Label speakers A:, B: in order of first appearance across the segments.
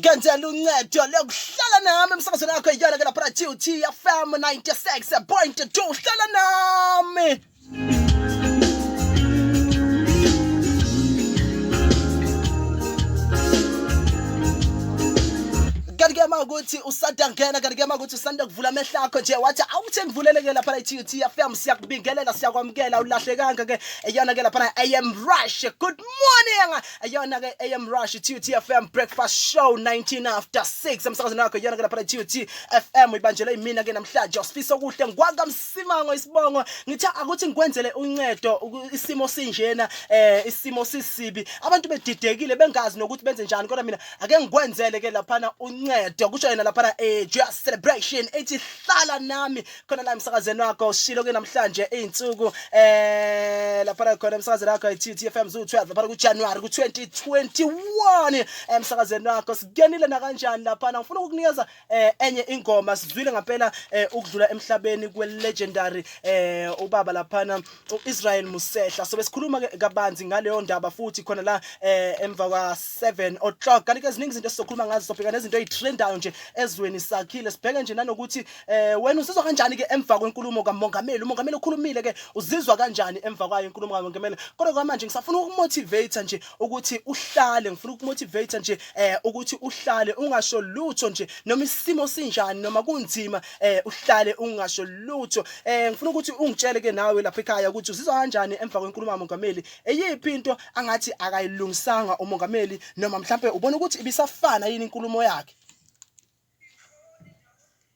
A: ngenzela uncedo lokuhlala nami emsakazweni yakho iyona ke lapha na-t t fm 96 point 2 hlala nami ukuthi usanda ngena kanti kuyama ukuthi usanda kuvula amehlo akho nje wathi awuthi ngivuleleke lapha i-TUT FM siyakubingelela siyakwamukela ulahlekanga ke eyona ke lapha AM Rush good morning eyona ke AM Rush i-TUT FM breakfast show 19 after 6 emsakazweni wakho eyona ke lapha i-TUT FM ibanjelwe imina ke namhlanje usifisa okuhle ngwangamsa Simango isibongo ngithi akuthi ngikwenzele uncedo isimo sinjena eh isimo sisibi abantu bedidekile bengazi nokuthi benze njani kodwa mina ake ngikwenzele ke laphana uncedo kusho yena laphana eh just celebration ethi hlala nami khona la emsakazeni wakho shilo ke namhlanje izinsuku eh laphana khona emsakazeni wakho iTFM Zoo 12 laphana ku January ku 2021 emsakazeni wakho sigenile na kanjani laphana ngifuna ukukunikeza eh enye ingoma sizwile ngampela eh, ukudlula emhlabeni kwe legendary eh ubaba laphana uIsrael Musehla so besikhuluma ke kabanzi ngaleyo ndaba futhi khona la eh emva kwa 7 o'clock kanti ke ziningi izinto esizokhuluma ngazo sobheka nezinto ezitrendayo nje ezweni sakhile sibheke nje nanokuthi eh wena usizwa kanjani ke emva kwenkulumo kamongameli umongameli ukhulumile ke uzizwa kanjani emva kwayo inkulumo kamongameli kodwa kwamanje ngisafuna ukumotivate nje ukuthi uhlale ngifuna ukumotivate nje eh ukuthi uhlale ungasho lutho nje noma isimo sinjani noma kunzima eh uhlale ungasho lutho eh ngifuna ukuthi ungitshele ke nawe lapha ekhaya ukuthi uzizwa kanjani emva kwenkulumo kamongameli eyiphi into angathi akayilungisanga umongameli noma mhlambe ubona ukuthi ibisafana yini inkulumo yakhe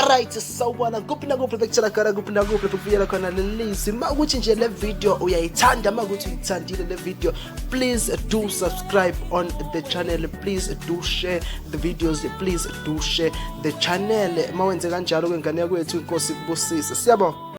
A: Alright, sawubona kuphi nakuphi bekutshela khona kuphi nakuphi bekubuyela khona lelizwi ma ukuthi nje le video uyayithanda ma ukuthi uyithandile le video please do subscribe on the channel please do share the videos please do share the channel ma wenze kanjalo kwengane yakwethu inkosi kubusise siyabonga